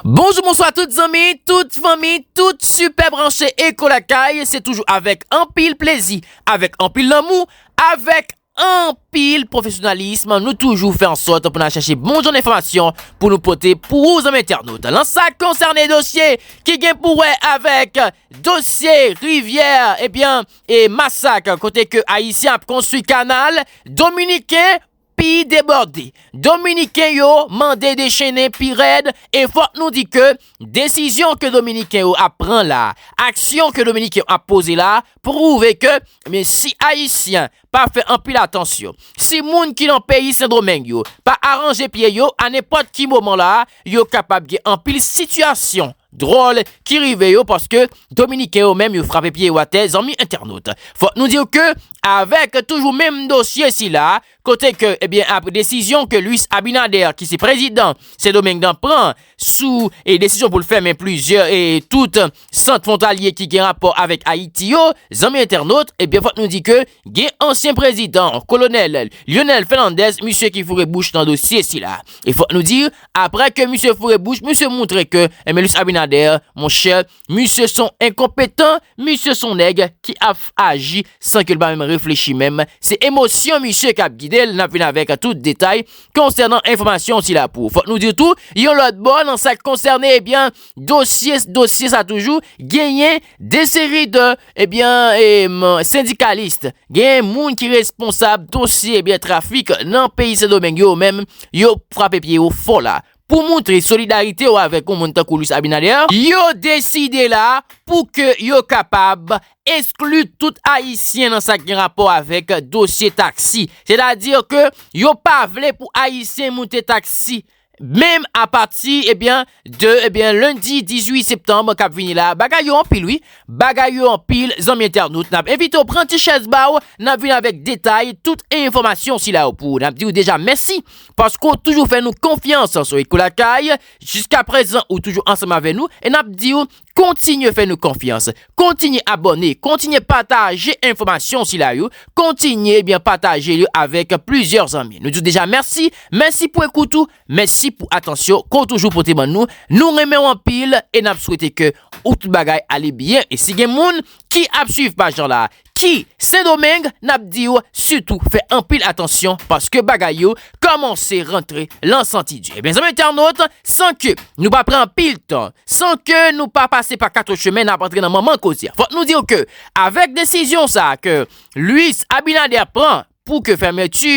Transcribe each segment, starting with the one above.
Bonjou bonswa tout zanmi, tout fanmi, tout sipè branche Eko Lakay Se toujou avèk anpil plezi, avèk anpil lanmou, avèk anpil pwofesyonalism Nou toujou fè ansòt pou nan chèche bon jan enfòmasyon pou nou pote pou ou zanmi entènot Lan sa konsène dosye ki gen pou wè avèk dosye rivyè ebyen e masak Kote ke ayisyen ap konstwi kanal dominiken Peyi debòde, Dominiken yo mande dechennen pi rèd e fòk nou di ke desizyon ke Dominiken yo ap pran la, aksyon ke Dominiken yo ap poze la pwouve ke men si Ayisyen pa fè anpil atansyon, si moun ki nan peyi Sendomeng yo pa aranje pye yo a nenpòt ki moman la yo kapab gen anpil sitiyasyon Dròl ki rive yo paske dominiken yo menm yo frape pye yo atè zanmi entènot. Fòk nou diw ke avèk toujou menm dosye sila kote ke ebyen apre desizyon ke Luis Abinader ki se prezidan Sendomeng nan pran sou e desizyon poul fèmen plizyè e tout sant fwontalye ki gen rapò avèk Ayiti yo zanmi entènot ebyen fòk nou di ke Gen ansyen prezidan, kolonèl, Lyonel Fènandez misye ki foure bouch nan dosye sila. E fòk nou di, aprè ke misye foure bouch, misye moutre ke, enben Luis Abinader, monchè, misye son enkonpetan, misye son nèg ki ap aji san ke l pa menm reflechi menm, se emosyon misye k ap gide l, n ap vin avèk tout detay konsènan enfòmasyon sila pou. Fòk nou di tou, yon lòt bò, nan sa k konsène, ebyen, dosye, dosye sa toujou, genyen. De seri de ebyen sendikalis, gen moun ki responsab dosye ebyen trafik nan peyi Sendomeng yo menm yo frape pye yo fò la pou moutre solidarite yo avèk yon moun tankou Luis Abinader, yo deside la pou ke yo kapab eskli tout ayisyen nan sa gen rapò avèk dosye taksi, sètadi ke yo pa vle pou ayisyen moute taksi Menm a pati ebyen de ebyen lendi 18 septanb kap vini la bagay yo anpil wi bagay yo anpil zanmi entènot nap envite w pran ti chèz ba w nap vini avèk detay tout enfòmasyon sila yo pou nap di w deja mèsi paske w toujou fè nou konfyans sou Ekolakay jiskaprezan ou toujou ansanm avè nou e nap di w Kontinye fè nou konfyans, kontinye abòne, kontinye pataje enfòmasyon sila yo, kontinye ebyen pataje yo avèk plizyè zanmi. Nou di w deja mèsi, mèsi pou ekout ou, mèsi pou atansyon ke w toujou pote ban nou. Nou renmen w anpil e n ap swete ke ou tout bagay ale byen. E si gen moun ki ap swiv paj lan la, ki sendomeng nap diw sitou fè anpil atansyon paske bagay yo kòmanse rantre lan santi di ebyen zanmi entènot san ke nou pa pran anpil tan san ke nou pa pase pa 4 chemen nap antre nan manman koze fòk nou diw ke avèk desizyon sa ke Luis Abinader pran pou ke fèmèti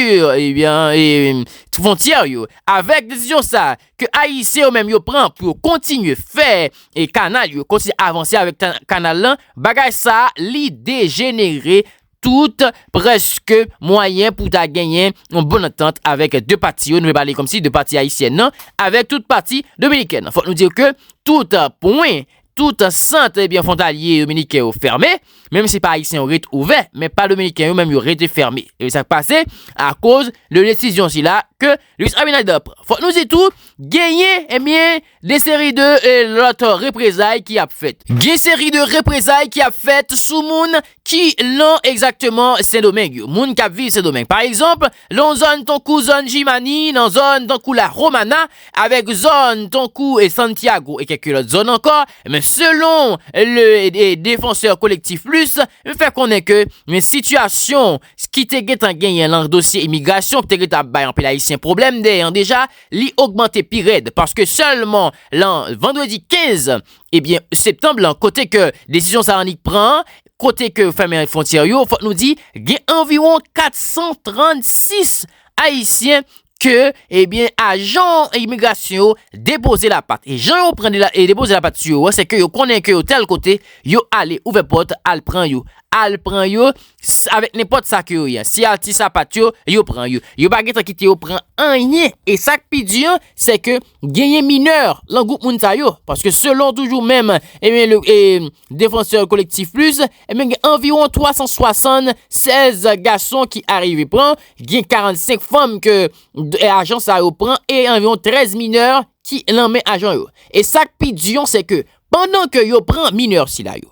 fontyè yo avèk desizyon sa ke ayisyen yo menm yo pran pou yo kontinye fè kanal yo kontinye avanse avèk kanal lan bagay sa li dejenere tout prèske mwayen pou ta genyen yon bon antant avèk 2 pati yo nou vle pale kòmsi 2 pati ayisyen nan avèk tout pati dominikèn fòk nou di ke tout pwen Tout sant ebyen fontalye yominiken yo fème, menm si pa ayisyen yo ret ouvè, men pa dominiken yo menm yo rete fème. Ebyen sak pase akoz de desizyon sila ke Luis Abinader pran. Fòk nou di tou genyen ebyen de seri de lòt reprezay ki ap fèt. Gen seri de reprezay ki ap fèt sou moun ki lan egzakteman Sendomeng yo, moun kap viv Sendomeng. Pa egzanp, Nan zòn tankou zòn Jimani, nan zòn tankou La Romana, avèk zòn tankou Santiago e kèk lòt zòn ankò, men selon le Défenseur Collectif Plus, fè konnen ke sitiyasyon ki te gentan genyen lan dosye imigrasyon ki te gentan ap bay anpil ayisyen pwoblèm deyè an deja, li ogmante pi rèd paske sèlman lan vandredi 15 ebyen septanb lan kote ke desizyon sa annik pran an, Kote ke yo fèmen fwontyè yo, fòk nou di gen anviwon 436 ayisyen ke ebyen ajan imigrasyon yo depoze lapat. E jan yo pran e depoze lapat sou yo an, se ke yo konnen ke yo tèl kote, yo ale ouvè pòt al pran yo. Al pran yo avèk nenpòt sa ke yo ye. Si al ti sapat yo, yo pran yo. Yo pa gen tan kite yo pran anyen. E sa k pi di an, se ke genyen minè lan gwoup moun sa yo. Paske selon toujou menm ebyen Défenseurs Collectifs Plus, ebyen gen anviwon 376 gason ki arive pran, gen 45 fanm ke ajan sa yo pran e anviwon 13 mineur ki lan men ajan yo. E sak pi di an se ke pandan ke yo pran mineur sila yo,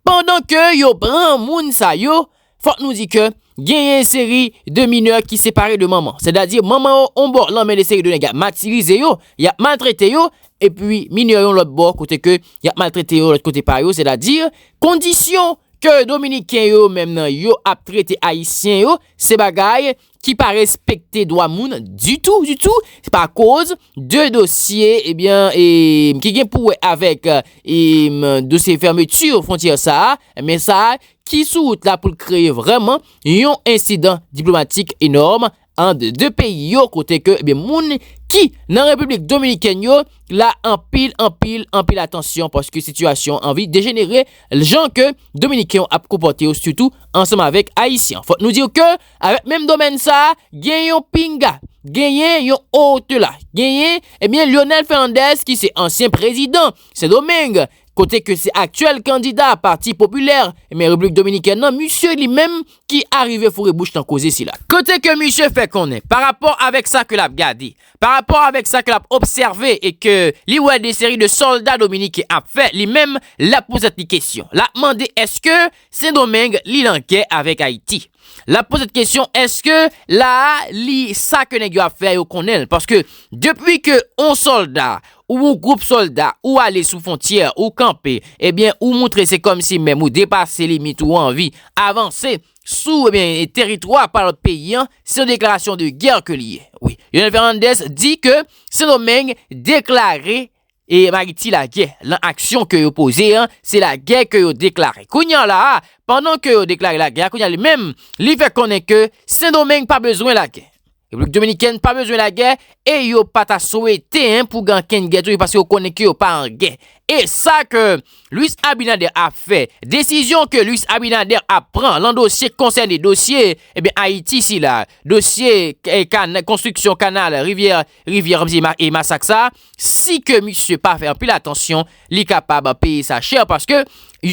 pandan ke yo pran moun sa yo, Fòk nou di ke genyen yon seri de minè ki separe de manman. Sètadi manman yo yon bò lan men de seri de nèg ap matirize yo, yap maltrete yo, epi minè yon lòt bò kote ke yap maltrete yo lòt kote pa yo, sètadi kondisyon ke dominiken yo menm nan yo ap trete ayisyen yo se bagay ki pa respekte dwa moun ditou ditou pa koz de dosye ebyen eh e ki gen pou wè avèk e eh, dosye fèmeti fontyè sa a men sa a ki sou wout la pou l kreye vrèman yon ensidan diplomatik enòm an de 2 peyi yo kote ke ebyen moun ki nan repiblik dominikèn yo la anpil anpil anpil atansyon paske sitiyasyon anvi dejenere ljan ke dominiken ap konpòte yo sitou ansanm avèk ayisyen fòk nou diw ke. Avèk menm domèn sa, gen yon pinga, genyen yon o-te-la, genyen, ebyen Lyonel Fènandèz ki se ansyen prezidan Sendomeng, kote ke se aktyèl kandida Pati Popilè, ebyen Repiblik Dominikèn nan, misye li menm ki arive foure bouch nan koze sila. Kote ke misye fè konnen, pa rapò avèk sa ke l ap gade, pa rapò avèk sa ke l ap obsève e ke li wè de seri de sòlda dominiken ap fè, li menm l ap poze tèt li kesyon, l ap mande èske Sendomeng li lan gè avèk ayiti lap pozet kesyon eske la a li sa ke nèg yo ap fè yo konnenl paske depi ke on sòlda ou on group sòlda ou ale sou fontyè ou kanpe ebyen ou moutre se kòmsi menm ou depase limit ou anvi avanse sou ebyen teritwa pa lòt peyi an se yon deklarasyon de gè ke li ye wi Leonel Fernandez di ke sendomeng deklare E Mariti lagè lan aksyon ke yo poze an, se lagè ke yo deklare. Kounya la a, pandan ke yo deklare lagè a, kounya li menm, li fè konnen ke Sendomeng pa bezwen lagè. Repiblik Dominikèn pa bezwen lagè, e yo pa ta swete en pou gen ankenn gè tou, e paske yo konnen ke yo pa an gè. E sa ke Luis Abinader ap fè, desizyon ke Luis Abinader ap pran lan dosye konsène dosye, e ben Ayiti sila, dosye ka, konstriksyon kanal rivyè Rivyè kap di e masak sa si ke misye pa fè anpil atansyon li kapab peye sa chè paske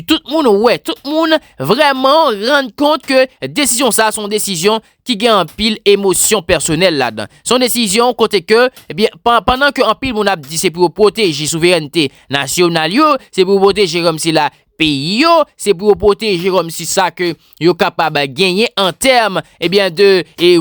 tout moun wè tout moun vrèman rann kont ke desizyon sa son desizyon ki gen anpil emosyon pèsonèl ladan son desizyon kote ke ebyen pandan ke anpil moun ap di se pou yo pwoteje souverènte nasyonal yo se pou yo pwoteje kòmsi la peyi yo, se pou yo pwoteje kòm si sa ke yo kapab genyen an tèm ebyen de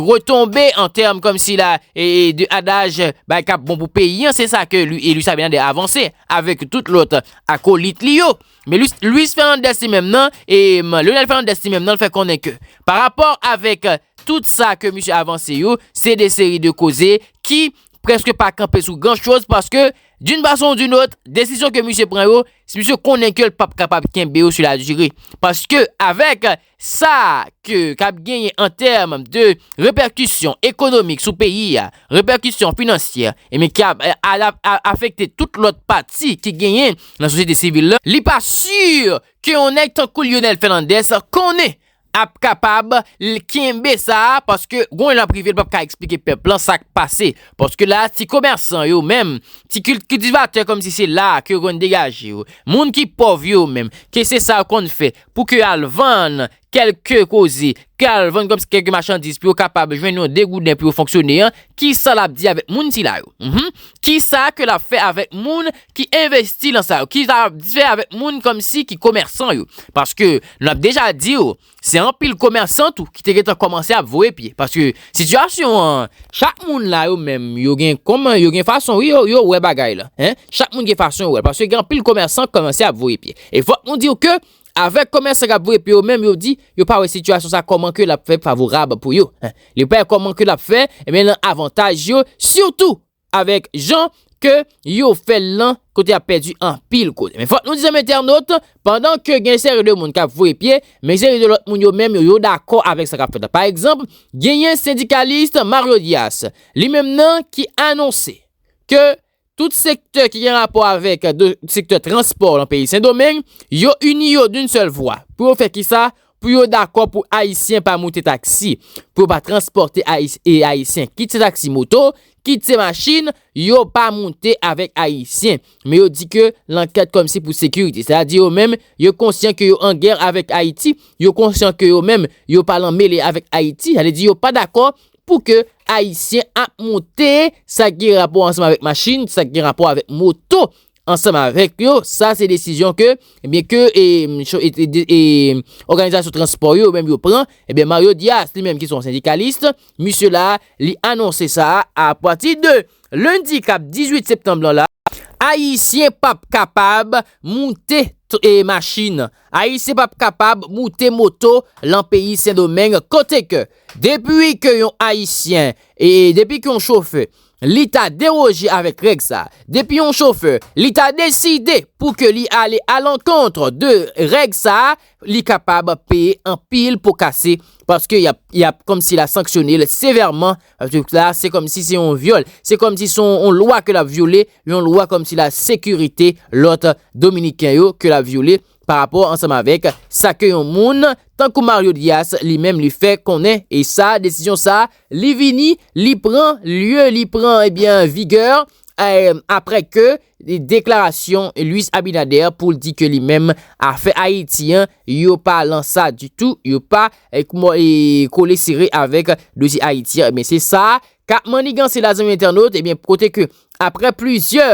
retonbe an tèm kòm si la de adaj bay kap bon pou peyi an, se sa ke Luis Abinader avanse avèk tout lòt akolit li yo. Men Luis Fernandez li menm nan, Leonel Fernandez li menm nan fè konnen ke pa rapò avèk tout sa ke misye avanse yo, se de seri de koze ki preske pa kanpe sou gran choz paske d'une façon ou d'une autre desizyon ke misye pran yo si misye konnen ke l pap kapab kenbe yo sou la diri paske avèk sa ke kap genyen an tèm de repèkisyon ekonomik sou peyi a repèkisyon finansyè ebyen ki ap afekte tout lòt pati ki genyen nan sosyete sivil la li pa sur ke yon nèg tankou Lyonel Fernandez konnen ap kapab kenbe sa paske gon jan prive l pap ka eksplike pèp lan sak pase paske la ti komèsan yo menm ti kiltivatè kòm si se la ke yo konn degaje yo moun ki pòv yo menm ke se sa yo konn fè pou ke al vann kèlke koze ke al vann kòm si kèlke machandiz pou yo kapab jwenn yon degouden pou yo fonksyone an kisa l ap di avèk moun sila yo kisa ke l ap fè avèk moun ki envesti lan sa yo ki sa yap fè avèk moun kòmsi ki komèsan yo paske nou ap deja diw se anpil komèsan tou ki te gentan kòmanse ap voye pye paske sitiyasyon an chak moun la yo menm yo gen kòman yo gen fason wi yo wè bagay lan hein chak moun gen fason yo wèl paske gen anpil komèsan kòmanse ap voye pye e fòk nou diw ke avèk komèsan kap voye pye yo menm yo di yo pa wè sitiyasyon sa kòman ke lap fè favorab pou yo hein yo pa wè kòman ke lap fè ebyen lan avantaj yo sitou avèk jan ke yo fè l lan kote yap pèdi anpil kote. Men fòk nou di zanmi entènot, pandan ke gen seri de moun kap voye pye, men seri de lòt moun yo menm yo yo dakò avèk sa kap fèt la. Pa egzanp, genyen sendikalis Mario Dias, li menm nan ki anonse ke tout sektè ki gen rapò avèk sektè transpò lan peyi Sendomeng, yo ini yo d'un sèl vwa pou yo fè kisa? pou yo dakò pou Ayisyen pa moute taksi, pou yo pa transpòte Ayisyen, kit se taksi moto, kit se machin, yo pa moute avèk Ayisyen. Men yo di ke lankèt kòmsi pou sekirite. Sa di yo menm, yo konsyan ke yo an gè avèk Ayiti, yo konsyan ke yo menm, yo pa lan mele avèk Ayiti, sa vle di yo pa dakò pou ke Ayisyen ap moute sa ki gen rapò ansanm avèk machin, sa ki gen rapò avèk moto. ansanm avèk yo, sa se desizyon ke ebyen ke òganizasyon transpò yo menm yo pran, ebyen Mario Dias li menm ki son sendikalis, misye la li anonse sa a pati de lendi kap 18 septanm lan la, ayisyen pap kapab moute machin, ayisyen pap kapab moute moto lan peyi Sendomeng kote ke depi ke yon ayisyen e depi ke yon chofè li ta deroje avèk règ sa. Depi yon chofè, li ta deside pou ke li ale alankontre de règ sa, li kapab peye anpil po kase, paske y ap kòmsi la sanksyone l sevèman, paske la se kòmsi se yon vyòl, se kòmsi se yon lwa ke l ap vyole, yon lwa kòmsi la sekirite lòt Dominiken yo ke l ap vyole. pa rapò ansanm avèk sa ke yon moun tankou Mario Dias li menm li fè konnen e sa desizyon sa li vini li pran lye li pran ebyen vigè aprè ke deklarasyon Luis Abinader pou l di ke li menm afè Ayiti an yo pa lan sa ditou yo pa kole sere avèk dosye Ayiti an ebyen se sa Ka manigan sila zanmi entènot, ebyen kote ke aprè plizyè,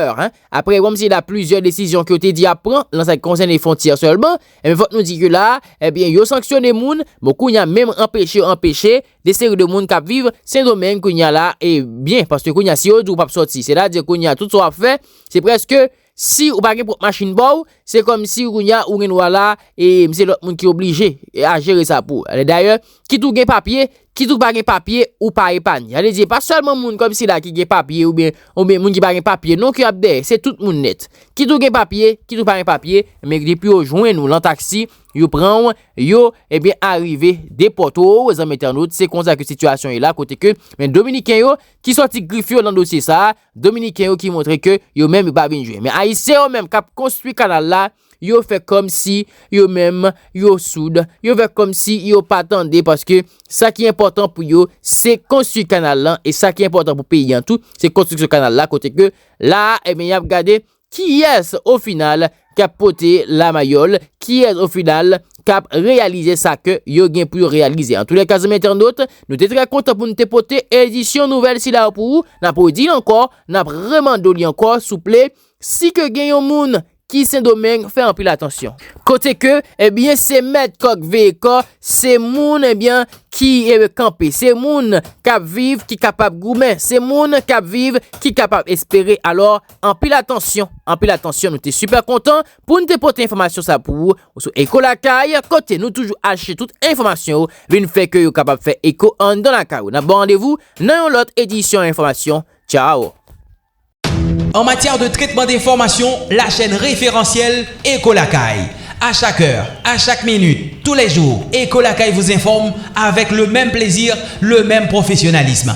aprè wè msye la plizyè desizyon ke yo te di yap pran nan sa ki konsène fontyè sèlman, ebyen fòk nou di ke la, ebyen yo sanksyone moun, bon kounya menm anpeche yo anpeche de seri de moun kap viv Sendomeng kounya la e byen paske kounya si yo di ou pap sòti, sètadi kounya tout sa wap fè se prèske Si ou pa gen pwòp machin pa w, se kòm si kounye a ou gen dwa la e se lòt moun ki oblije a jere sa pou ou. Dayè, kit ou gen papye, kit ou pa gen papye, ou pa epanye. Sa vle di e pa sèlman moun kòm sila ki gen papye oubyen moun ki pa gen papye non ki ap dèyè, se tout moun nèt. Kit ou gen papye, kit ou pa gen papye, men depi yo jwenn ou lan taksi, yo pran w, yo ebyen arive depòte w, zanmi entènot, se konsa ke sitiyasyon ye la kote ke men dominiken yo ki sòti grif yo lan dosye sa a, Dominiken yo ki montre ke yo menm yo pa vin jwe. Men Ayisyen yo menm kap konstwi kanal la, yo fè kòm si yo menm yo soud, yo fè kòm si yo pa tande paske sa ki enpòtan pou yo se konstwi kanal lan e sa ki enpòtan pou peyi an tou se konstriksyon kanal la kote ke la a, e ben yap gade Kiyès o final kap pote la mayòl, kiyès o final kap reyalize sa ke yo gen pou yo reyalize. An tou lè ka zanmi entènot, nou te trè kontan pou nou te pote edisyon nouvèl sila yo pou ou, nap redi l ankò, nap remande w li ankò souple, si ke gen yon moun ki sendomeng fè anpil atansyon. Kote ke ebyen se mèt kòk veye kò, se moun ebyen ki kanpe, se moun kap viv ki kapab goumen, se moun kap viv ki kapab espere alò, Anpil atansyon, anpil atansyon nou te super kontan poun te pote enfòmasyon sa pou ou sou Eko Lakay kote nou toujou achte tout enfòmasyon yo vin fè ke yo kapab fè eko anndan lakay ou nap ba randevou nan yon lòt edisyon enfòmasyon tchao. En matière de traitement d'information, la chaîne référentielle Echo Lakay. À chaque heure, à chaque minute, tous les jours, Echo Lakay vous informe avec le même plaisir, le même professionnalisme.